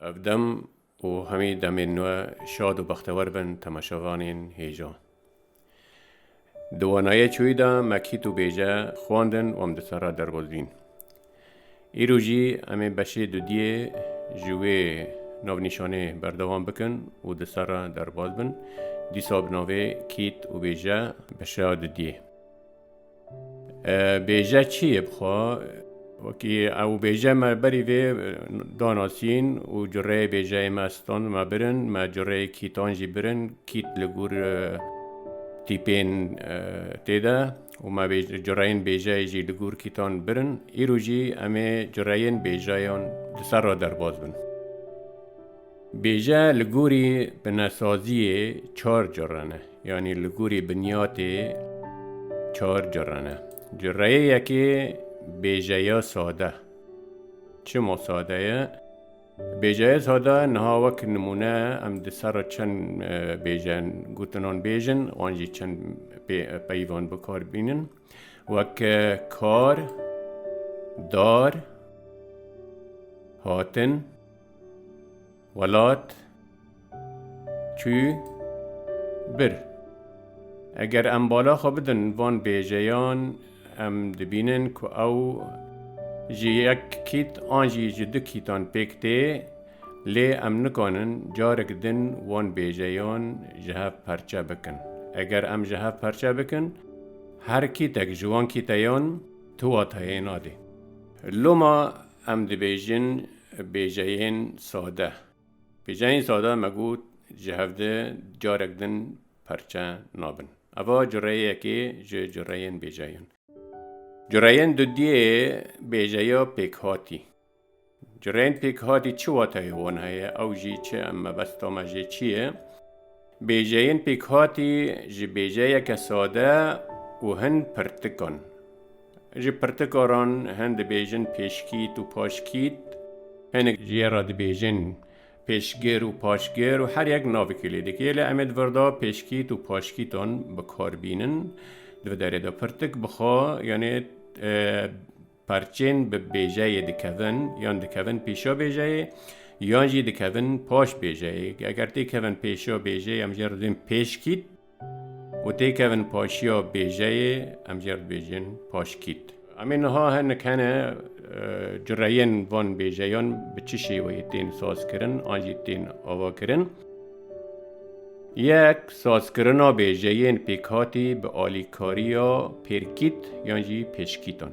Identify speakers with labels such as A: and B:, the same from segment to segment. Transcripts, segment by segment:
A: Ev dem û hemî demên nû şad û bextewer bin temaşevanên hêja. Di wanayê çûyî de me kît û bêje xwendin û em di serra derwezîn. Îro jî em ê beşê dudiyê ji wê navnîşanê berdewam bikin û di serra derbas bin, dîsa bi navê kît û bêje beşa dudiyê. Bêje çi yê bi xwe? Wekî ew bêje me berî vê danasîn û cureyê bêjeyê me ston me birin, me cureyê kîtan jî birin, kît li gûr tîpên tê de û me cureyên bêjeyê jî li gûr kîtan birin. Îro jî em ê cureyên bêjeyan li ser re derbas bin. Bêje li gorî binesaziyê çar cure ne, yanî li gorî binyatê çar cure ne. Cureyê yekê bêjeya sade. Çima sade ye? Bêjeya sade niha wek nimûne em di ser re çend bêje gotinan bêjin, wan jî çend peyvan bikar bînin. Wek kar, dar, hatin. Welat çû bir. Eger em bala xwe bidin van bêjeyan em dibînin ku ew ji yek kît an jî ji du kîtan pêk tê lê em nikanin carek din van bêjeyan ji hev perçe bikin. Eger em ji hev perçe bikin her kîtek ji wan kîteyan tu watayê nade. Loma Em dibêjin bêjeyên sade. Bêjeyên sade me got ji hev di carek din parçe nabin. Eva cureyekê ji cureyên bêjeyan. Cureyên dudiyê bêjeya pêkhatî. Cureyên pêkhatî çi wateyê wan heye ew jî çi em mebesta me jê çi ye? Bêjeyên pêkhatî ji bêjeyeke sade û hin pirtikan. Ji pirtikaran hin dibêjin pêşkît û paşkît. Hinek ji ye re dibêjin pêşgir û paşgir û her yek navekê lê dike. Lê em ê di vir de pêşkît û paşkîtan bi kar bînin. Di vir derê de pirtik bixa yanê perçên bi bêjeyê dikevin yan dikevin pêşa bêjeyê yan jî dikevin paş bêjeyê. Eger têkevin pêşa bêjeyê em jê re dibin pêşkît. Û têkevin paşiya bêjeyê, em jê dibêjin paşkît. Em ê niha hinek hene cureyên van bêjeyan bi çi şêweyê tên sazkirin an jî tên avakirin. Yek, sazkirina bêjeyên pêkhatî bi alîkariya pêrkît yan jî pêşkîtan.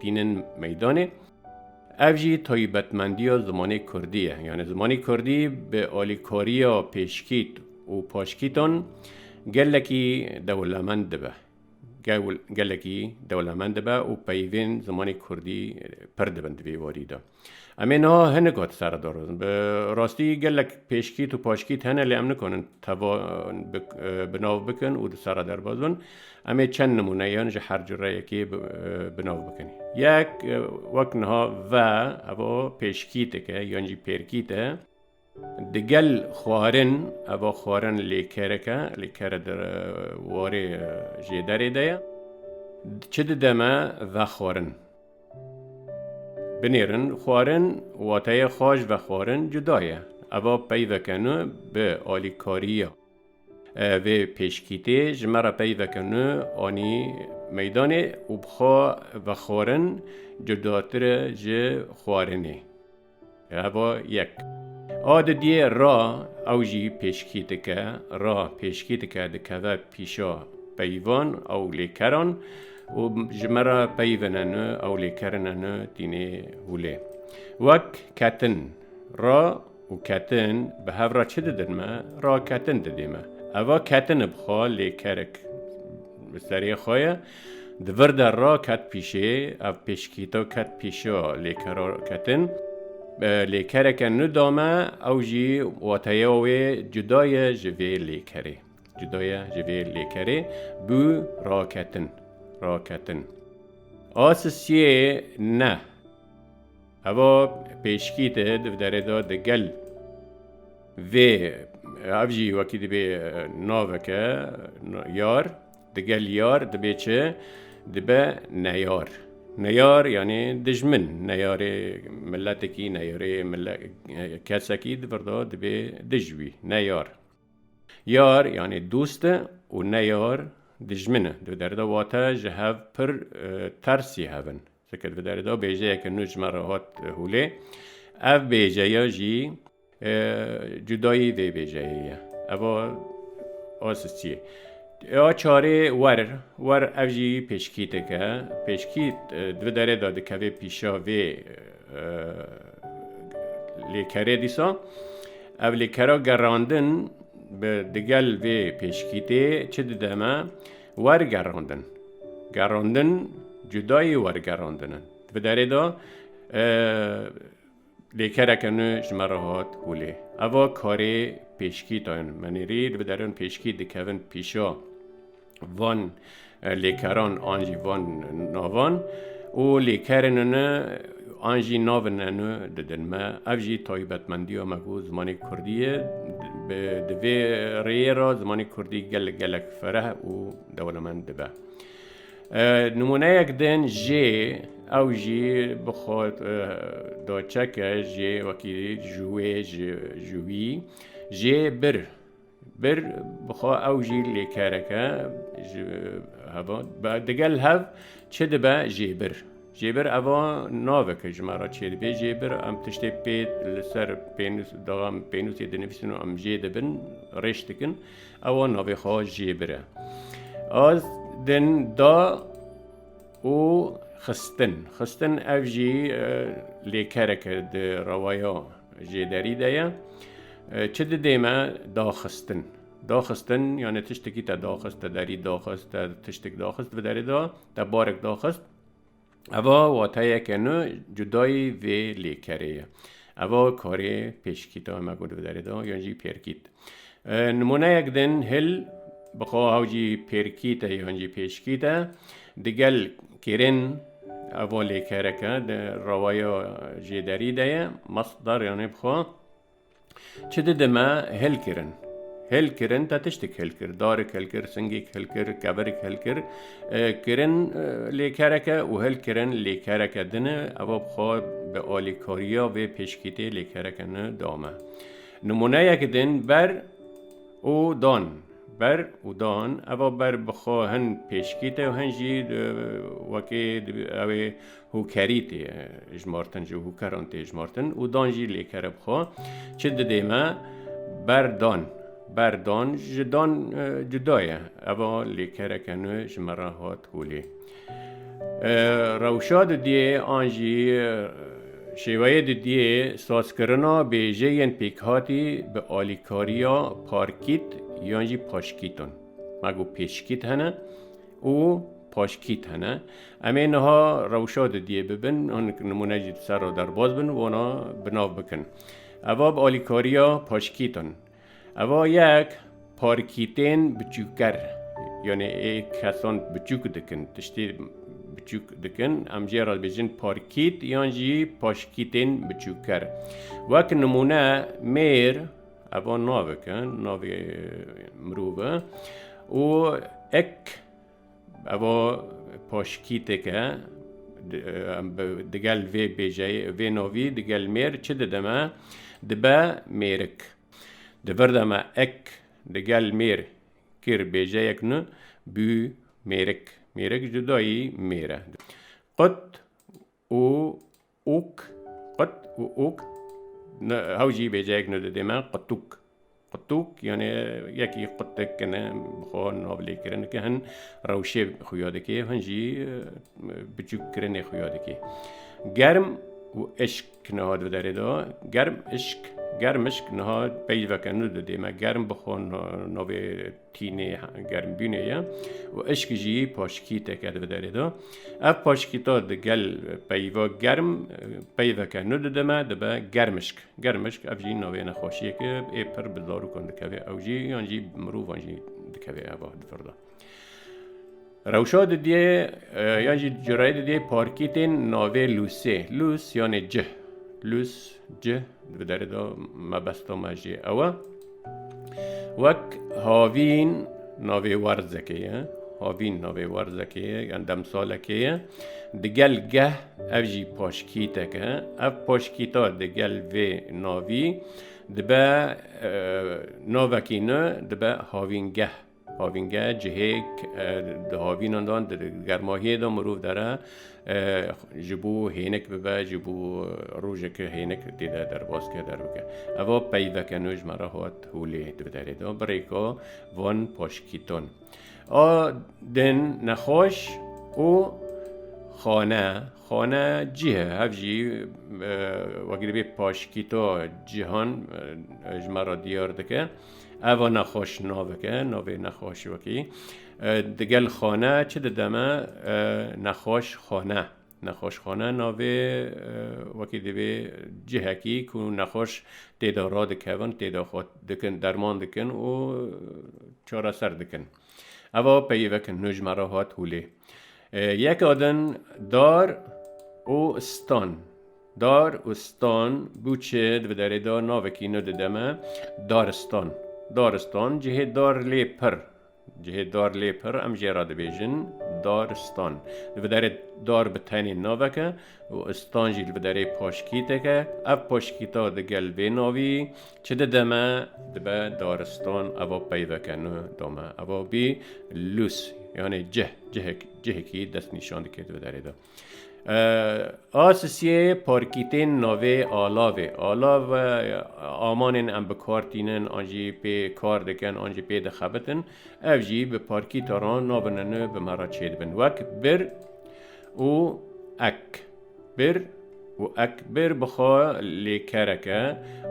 A: tînin meydanê. Ev jî taybetmendiya zimanê Kurdî ye. Yani zimanê Kurdî bi alîkariya pêşkît û paşkîtan gelekî dewlemend dibe. Gelekî dewlemend dibe û peyvên zimanê Kurdî pir dibin di vê warî de. Em ê niha hinek ot ser darozin. Bi rastî gelek pêşkît û paşkît hene lê em nikonin teva bi nav bikin û di serra derbaz bin. Em ê çend nimûneyan ji her cureyekê bi nav bikin. Yek wek niha ve evo pêşkîteke yan jî pêrkît e. Digel xwarin, eva xwarin lêkerek e, lêkere di warê jêderê de ye. Çi dide me vexwarin? Binêrin, xwarin wateye xwaş vexwarin cuda ye. Eva peyveke nû bi alîkariya vê pêşkîtê ji me re peyveke nû anî meydanê û bi xwe vexwarin cudatir e ji xwarinê. Heva yek. A didiyê ra ew jî pêşkî dike, ra pêşkî dike dikeve pîşa peyvan ew lê keran û ji me re peyvine nu ew lê kerine nu tînê hûlê. Wek ketin. Ra û ketin bi hev re çi didin me? Raketin didê me. Eva ketin bixwe lê kerik bi serê xwe ye. Di vir de ra ket pîşê, ev pêşkîto ket pîşo lê ke ra ketin. Lê kereke nû dame, ew jî wateya wê cuda ye ji vê lêkerê. Cuda ye ji vê lêkerê bû ra ketin, ra ketin. A sisiyê ne. Eva pêşkît e di derê de di gel vê ev jî wekî dibê naveke yar. Digel yar dibê çi? Dibe neyar. Neyar yanî dijmin, neyarê miletekî, neyarê kesekî di vir de dibê dij wî, neyar. Yar yanî dost e û neyar dijmin e. Di vir de wate ji hev pir tersî hev in. Fikir bide li do bêjeyeke nû ji me re hat hûlê. Ev bêjeya jî cudayî vê bêjeyê ye. Eva asistiyê. Ya çarê wer wer ev jî pêşkîteke. Pêşkît di derê de dikevê pîşa vê lêkerê dîsa. Ev lêkera gerandin bi digel vê pêşkîtê çi dide me? Wergerandin, gerandin cudayê wergerandin in. Di derê de lêkereke nû ji me re hat holê. Eva karê pêşkî dayên menîrî li biderin pêşkî dikevin pîşa van lêkeran an jî van navan û lêkerên ne An jî navên enu didin me. Ev jî taybetmendiya me ku zimanê kurdî ye. Di vê rêyê re zimanê kurdî gelek gelek fereh û dewlemend dibe. Nimûneyek din jê ew jî bi xwe da çeke jê wekî ji wê ji wî jê bir. Bir bi xwe ew jî lêkereke ji heva digel hev çi dibe jêbir. Jêbir eva naveke ji me re çêdibê jêbir em tiştê pê li ser pênûs daxa em pênûsê dinivîsin û em jê dibin rêş dikin ewa navê xwe jêbir e. Az din da û xistin xistin ev jî lêkereke di rewaya Jê derî de ye. Çi didê me daxistin. Daxistin yani tiştekî te daxist, te derî daxist, te tiştek daxist bi derê da, te barek daxist. Eva wateyeke nû cudayî vê lêkerê ye. Eva karê pêşkîta me got bi derê da yan jî pêrkît. Nimûneyek din hil bi xwe haw jî pêrkî te yan jî pêşkî te digel kêrên evo lêkereke di rewaya jêderî de ye masdar yanê bi xwe çi didime hil kirin. Hil kirin te tiştik hil kir darek hil kir singek hil kir keverek hil kir kirin lêkereke û hil kirin lêkereke dine ev bixwe bi alîkariya vê pêşkîtê lêkereke ne dame. Nimûneyek din ber û dan. Ber û dan eva ber bi xwe hin pêşkî tê û hin jî wekê ew ê hûkerî tê hijmartin ji hûkeran tê hijmartin û dan jî lê kere bi xwe. Çi didê me? Ber dan. Ber dan ji dan cuda ye. Eva lêkereke nû ji me re hat holê. Rewşa didiyê an jî şêweyê didiyê sazkirina bêjeyên pêkhatî bi alîkariya parkît yan jî paşkît in. Me got pêşkît hene û paşkît hene. Em ê niha rewşa didiyê bibin, hinek nimûne jî li ser re derbas bin û wana bi nav bikin. Eva bi alîkariya paşkît in. Eva yek parkîtên biçûker yanê ê kesan biçûk dikin tiştê biçûk dikin em jê re dibêjin parkît yan jî paşkîtên biçûker. Wek nimûne mêr eva navik e navê mirov e û ek Evo poşkîtêk e. Digel vê bêjeyê, vê novî digel mêr çi dide me? Dibe mêrik. Di vir de me ek digel mêr kir bêjeyek nû, bû mêrik. Mêrik cudayî mêr e. Qut û Ûk, qut û ûk ne hew jî bêceyek ne didê me qutûk. Qutûk yanê yekî qutik ne bi xwe navlêkirin ki hin rewşê xuya dikê hin jî biçûkkirinê xuya dikê. Germ û eşk niha di derê de germ eşk germ eşk niha peyveke ne didê me germ bi xwe navê tînê germbînê ye û eşk jî paşkîteke di derê de. Ev paşkîta di gel peyva germ peyveke nû didime dibe germişk. Germişk ev jî navê nexweşiyeke ê pir bi zarokan dikeve ew jî yan jî mirovan jî dikeve eva di vir de. Rewşa didiyê yan jî cureyê didiyê parkî tên navê Lûsê. Lûs yanê cih. Lûs, cih bi derê de mebesta me jî ew e. Wek havîn navê werzekê ye. Havîn navê werzekê ye yan demsalekê ye. Digel geh ev jî paşkîtek e. Ev paşkîta digel vê navî dibe navekî nû dibe havîngeh. Havîngeh cihêk e di havînan de an di germahiyê de mirov dere ji bo hênik bibe, ji bo rojeke hênik tê de derbas ke, derbike. Eva peyveke nû ji me re hat holê di derê de. Birêka van Paşkîton a din nexweş û xane, xane cih e. Hev jî wekî divê paşkîto cihan ji me re diyar dike. Eva nexweş naveke navê nexweş wekî digel xane çi dideme nexweş xane nexweş xane navê wekî divê cihekî ku nexweş têda radikevin têda xwe dikin derman dikin û çareser dikin. Eva peyivek nû ji me re hat hûlê. Yek adin dar û stan. Dar û stan bû çi di derê de navekî nû dide me daristan. Daristan cihê dar lê pir. Cihê dar lê pir em jê re dibêjin daristan. Di derê dar bi tenê naveke û stan jî li bi derê paşkîtek e. Ev paşkîta di gel vê navî çi dide me? Dibe daristan eva peyve ke nu da me. Eva bî lûs yanê cih, cihek, cihekî destnîşan dike di bi derê de. A sisiyê parkîtên navê alavê, alav amanên em bi kar tînin an jî pê kar dikin an jî pê dixebitin ev jî bi parkîta re nabin e nu bi me re çêdibin wek bir Û ek bir û ek bir bi xwe lêkerek e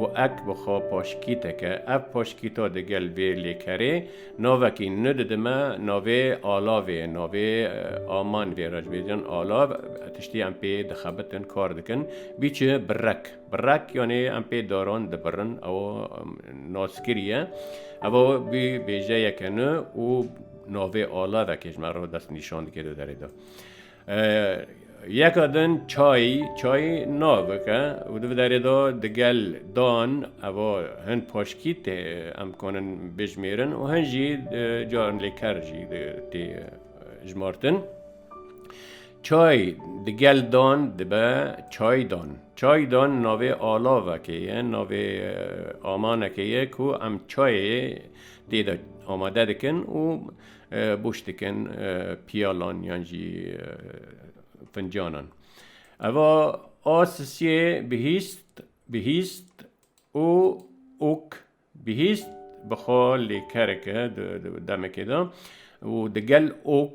A: û ek bi xwe paşkîtek e. Ev paşkîta di gel vê lêkerê navekî nû didime navê Alavê. Navê Aman vê racbêjin Alav tiştî em pê dixebitin, kar dikin. Bîçi birek. Birek yanê em pê daran dibirin. Ew nas kiriye. Ev bî bêjeyeke nû û. Navê alavekê ji me re dest nîşan dike di derê de. Yeka din çayî çayî navike û di derê de digel dan eva hin paşkî tê em konin bêjmêrin û hin jî carin lêker jî tê jmartin. Çay digel dan dibe çaydan. Çaydan navê alavekê ye navê amanekê ye ku em çayê Tê de amade dikin û boş dikin piyalan yan jî fincanan. Eva a sisiyê bihîst bihîst û ûk bihîst bi xwe lê kereke di demekê de û di gel ok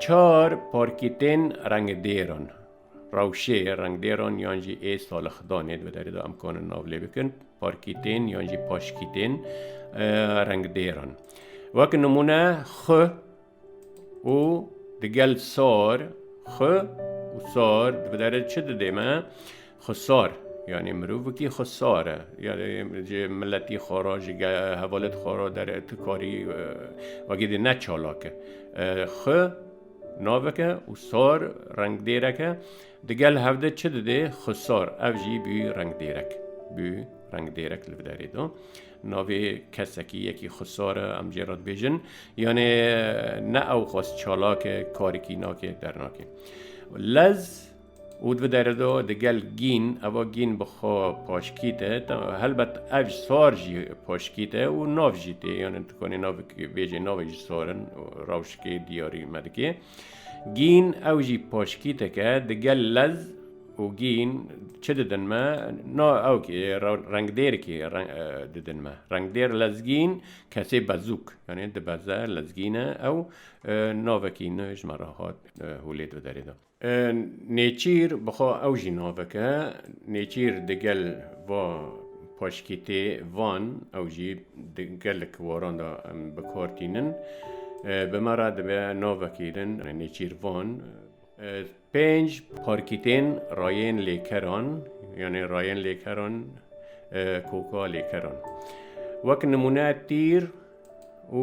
A: Çar parkîtên rengdêr in. Rewşê rengdêran yan jî ê salixdanê di derê de em kanin nav lê bikin parkîtên yan jî paşkîtên rengdêr in. Wek nimûne xwe û digel sar xwe û sar di derê çi didê me? Xwesar, yanî mirovekî xwesar e. Yanî ji miletî xwe re, ji hevalêt xwe re dere tu karî wekî dî ne çalak e. Xwe navek e û sar rengdêrek e. Di gel hev de çi didê? Xwesar, ev jî bû rengdêrek. Bû rengdêrek li derê de. Navê kesekî yekî xwesar e, em jê re dibêjin. Yanî ne ew xwest çalak e, karekî nake, dernake. Lez. Û di derê de digel gîn, eva gîn bi xwe paşkît e, helbet ev sor jî paşkît e û nav jî tê, yanî dikanî navekê bêjê, navê jî sor in, rewşikê diyarî me dike. Gîn ew jî paşkîtek e, digel lez û gîn çi didin me? Na ew ki rengdêr ki didin me. Rengdêr lezgîn kesê bezûk yanî dibeze lezgîne ew navekî nû ji me re hat hûlê di derê de. Nêçîr bi xwe ew jî navek e. Nêçîr di gel va paşkîtê van ew jî di gelek waran de bi kar tînin. Bi me re dibe navekî din nêçîr van. Pênc parkîtên rayên lêkeran yanê rayên lêkeran koka lêkeran. Wek nimûne tîr û.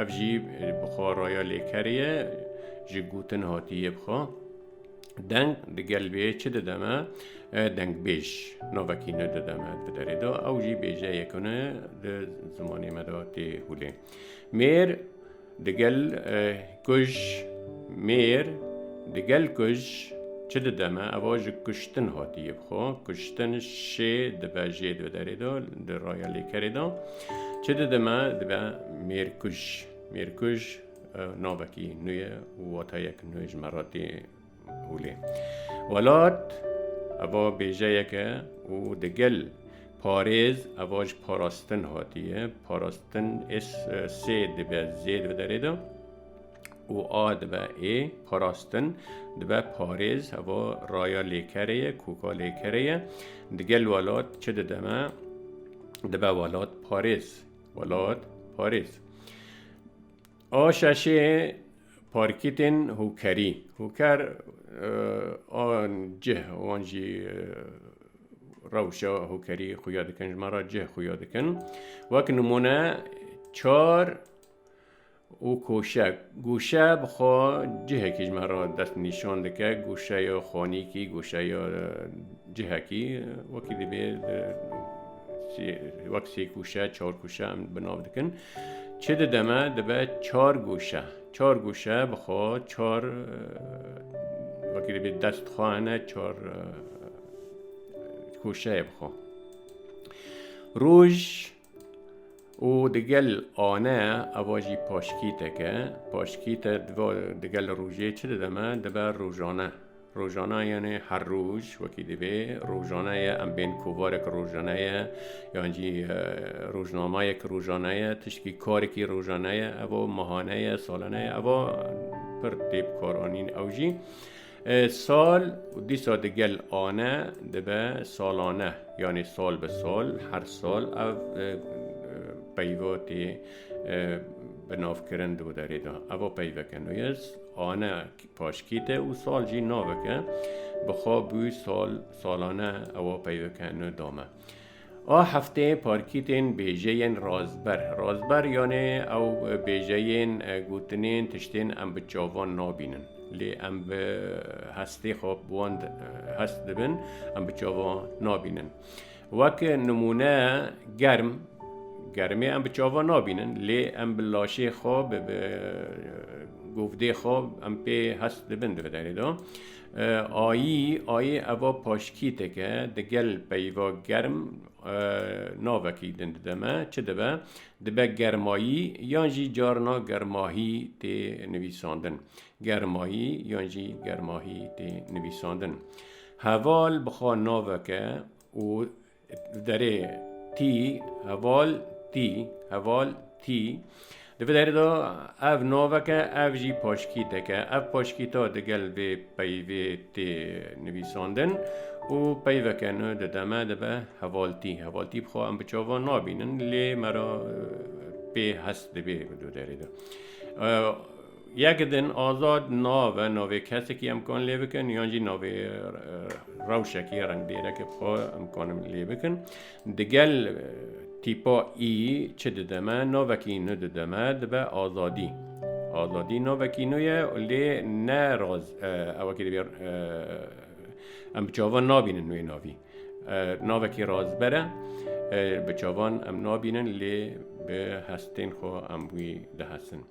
A: Ev jî bi xwe raya lêkerê ye, ji gotin hatiye bi xwe. Deng di gel vê çi dide me? Dengbêj navekî ne dide me di derê de. Ew jî bêjeyek ne di zimanê me de tê hûlê. Mêr di gel kuj, mêr di gel kuj çi dide me? Ev ji kuştin hatiye bi xwe. Kuştin şê dibe jê di derê de, di raya lêkerê de. Çi dide me dibe mêrkuj. Mêrkuj navekî nû ye û watayek nû ji me re tê hûlê. Welat eva bêjeyeke û digel parêz eva ji parastin hatiye. Parastin ês sê dibe zêd bi derê de. û a dibe ê parastin dibe parêz heva raya lêkerê ye koka lêkerê ye digel welat çi dide me dibe welat parêz welat parêz a şeşê parkîtên hûkerî hûker an cih wan jî rewşa hûkerî xuya dikin ji me re cih xuya dikin wek nimûne çar û koşe. Goşe bi xwe cihekî ji me re dest nîşan dike, goşeya xanîkî, goşeya cihekî wekî divê wek sê kûşe çar kûşe em bi nav dikin. Çi dide me dibe çar goşe. Çar goşe bi xwe çar wekî divê dest xwe hene çar kûşeyê bi xwe. Roj û digel ane ava jî paşkîtek e. Paşkît e diva digel rojê çi dide me? Dibe rojane. Rojana yani her roj wekî divê rojane ye em bên kovarek rojane ye yan jî e, rojnamayek rojane ye tişkî karekî rojane ye eva mahane ye salane ye eva pir tê bikaranîn ew jî. Sal û dîsa di gel ane dibe salane yanî sal bi sal her sal ev peyva tê binavkirin di wê derê de. Eva peyveke nû ye ane paşkî te û sal jî naveke bi xwe bû sal salane ewa peyveke nû dame. A heftê parkîtên bêjeyên razber, razber yanê ew bêjeyên gotinên tiştên em bi çavan nabînin lê em bi hestê xwe bi wan hest dibin em bi çavan nabînin. Wek nimûne germ, germê em bi çavan nabînin lê em bi laşê xwe bi govdê xwe em pê hest dibin di vê derê de. Ayî, Ayê eva paşkîtek e, di gel peyva germ navekî din dide me. Çi dibe? Dibe germayî yan jî carna germahî tê nivîsandin. Germayî yan jî germahî tê nivîsandin. Heval bixwe navek e û Li derê tî heval tî heval tî. Di vê derê de ev navek e ev jî paşkîtek e. Ev paşkîta digel vê peyvê tê nivîsandin û peyveke nû dide me dibe hevaltî. Hevaltî bixwe em bi çavan nabînin lê me re pê hest dibê di derê de. Yek din azad nave navê kesekî em kan lê bikin yan jî navê rewşekî rengdêrekî xwe em kanin lê bikin. Digel tîpa î çi dide me? Navekî nû dide me dibe azadî. Azadî navekî nû ye lê ne raz ewekî divê em bi çavan nabînin wê navî. Navekî razber e bi çavan em nabînin lê bi hestên xwe em wî dihesin.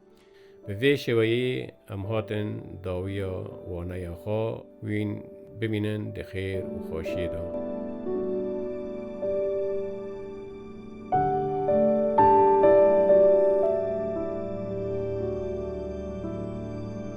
A: Bi vê şêweyê em hatin dawiya waneya xwe wîn bimînin di xêr û xweşiyê de.